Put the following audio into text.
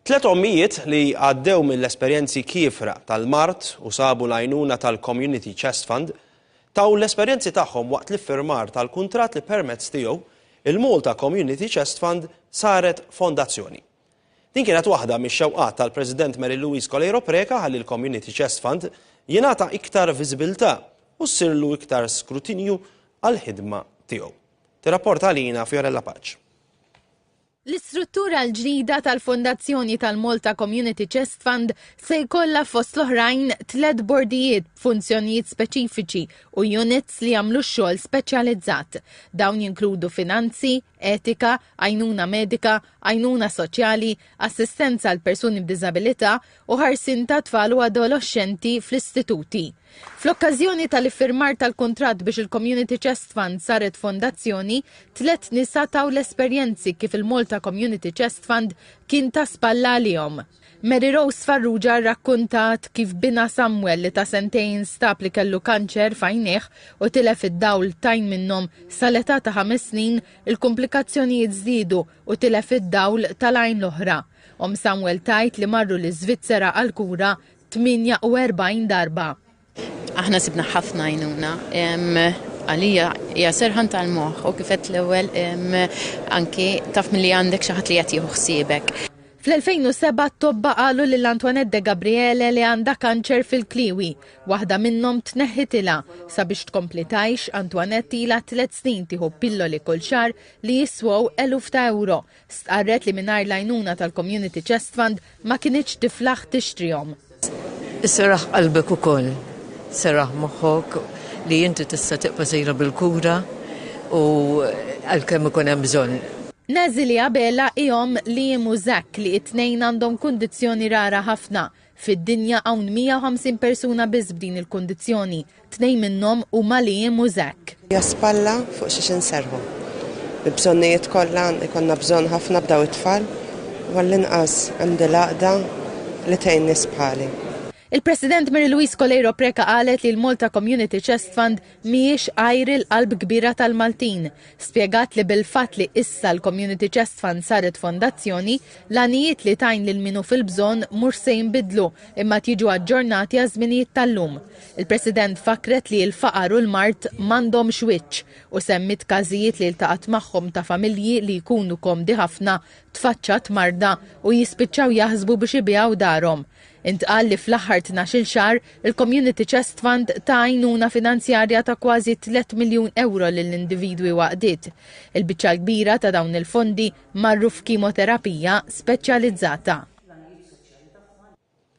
Tliet ommijiet li għaddew mill-esperjenzi kiefra tal-mard u sabu l-għajnuna tal-Community Chest Fund taw l-esperjenzi tagħhom waqt l-iffirmar tal-kuntratt li permezz tiegħu il-Malta Community Chest Fund saret fondazzjoni. Din kienet waħda mix-xewqat tal-President Mary Louise Coleiro Preca ħalli l-Community Chest Fund jingħata iktar viżibilità u ssirlu iktar skrutinju għall-ħidma tiegħu. Tirrapporta għalina Fiorella Paċ. L-istruttura l-ġdida tal-Fondazzjoni tal-Malta Community Chest Fund se jkollha fost l-oħrajn tliet bordijiet b'funzjonijiet speċifiċi u units li jagħmlu x-xogħol speċjalizzat. Dawn jinkludu finanzi, etika, għajnuna medika, għajnuna soċjali, assistenza għall-persuni b'diżabilità u ħarsien tat-tfal u adoloxxenti fl-istituti. Fl-okkażjoni tal-iffirmar tal-kuntratt biex il-Community Chest Fund saret fondazzjoni, tliet nisa taw l-esperjenzi kif il-Malta Community Chest Fund kien ta' spalla għalihom. Mary Rose Farrugia rrakkuntat kif binha Samuel li ta' sentejn nstab li kellu kanċer f'għajnejh u tilef id-dawl t'għajn minnhom sal-età ta' ħames snin, il-kumplikazzjonijiet żdiedu u tilef id-dawl tal-għajn l-oħra. Omm Samuel tgħid li marru l-Iżvizzera għall-kura 48 darba. Aħna sibna ħafna għajnuna. Għalija hija serħan tal-moħħ u kifet l-ewwel anki taf milli għandek xi ħadd li qed jieħu ħsiebek. Fl-2007 t-tobba qalu lil Antoinette de Gabriele li għandha kanċer fil-kliewi. Waħda minnhom tneħħitilha. Sabiex tkompli tgħix, Antoinette ilha tliet snin tieħu pilloli kull xahar li jiswew eluf ta' ewro. Stqarret li mingħajr l-għajnuna tal-Community Chest Fund ma kinitx tiflaħ tixtrihom. Iseraħ qalbek ukoll, seraħ moħħok li inti tista' tibqa' sejra bil-kura u għalkemm ikun hemm bżonn. Nezilie Abela hi omm Liam u Zach li t-tnejn għandhom kundizzjoni rara ħafna. Fid-dinja hawn 150 persuna biss b'din il-kundizzjoni, tnejn minnhom huma Liam u Zack. Hija spalla fuq xiex inserrħu. Bil-bżonnijiet kollha jkollna bżonn ħafna b'daw it-tfal u għall-inqas hemm din l-għaqda li tgħin nies bħali. Il-President Mary Louise Coleiro Preca qalet li l-Malta Community Chest Fund mhijiex għajr il-qalb kbira tal-Maltin. Spjegat li bil-fatt li issa l-Community Chest Fund saret fondazzjoni, l-għanijiet li tgħin lil min hu fil-bżonn mhux se jinbidlu imma qed jiġu aġġornati għaż-żminijiet tal-lum. Il-President fakkret li l-faqar u l-mard m'għandhomx wiċċ u semmiet każijiet li ltaqgħet magħhom ta' familji li jkunu komdi ħafna tfaċċat marda u jispiċċaw jaħsbu biex ibigħu darhom Intqal li fl-aħħar tnax-il xahar, il-Community Chest Fund ta għajnuna finanzjarja ta' kważi tliet miljun ewro lil individwi u għaqdiet. Il-biċċa l-kbira ta' dawn il-fondi marru f'kimoterapija speċjalizzata.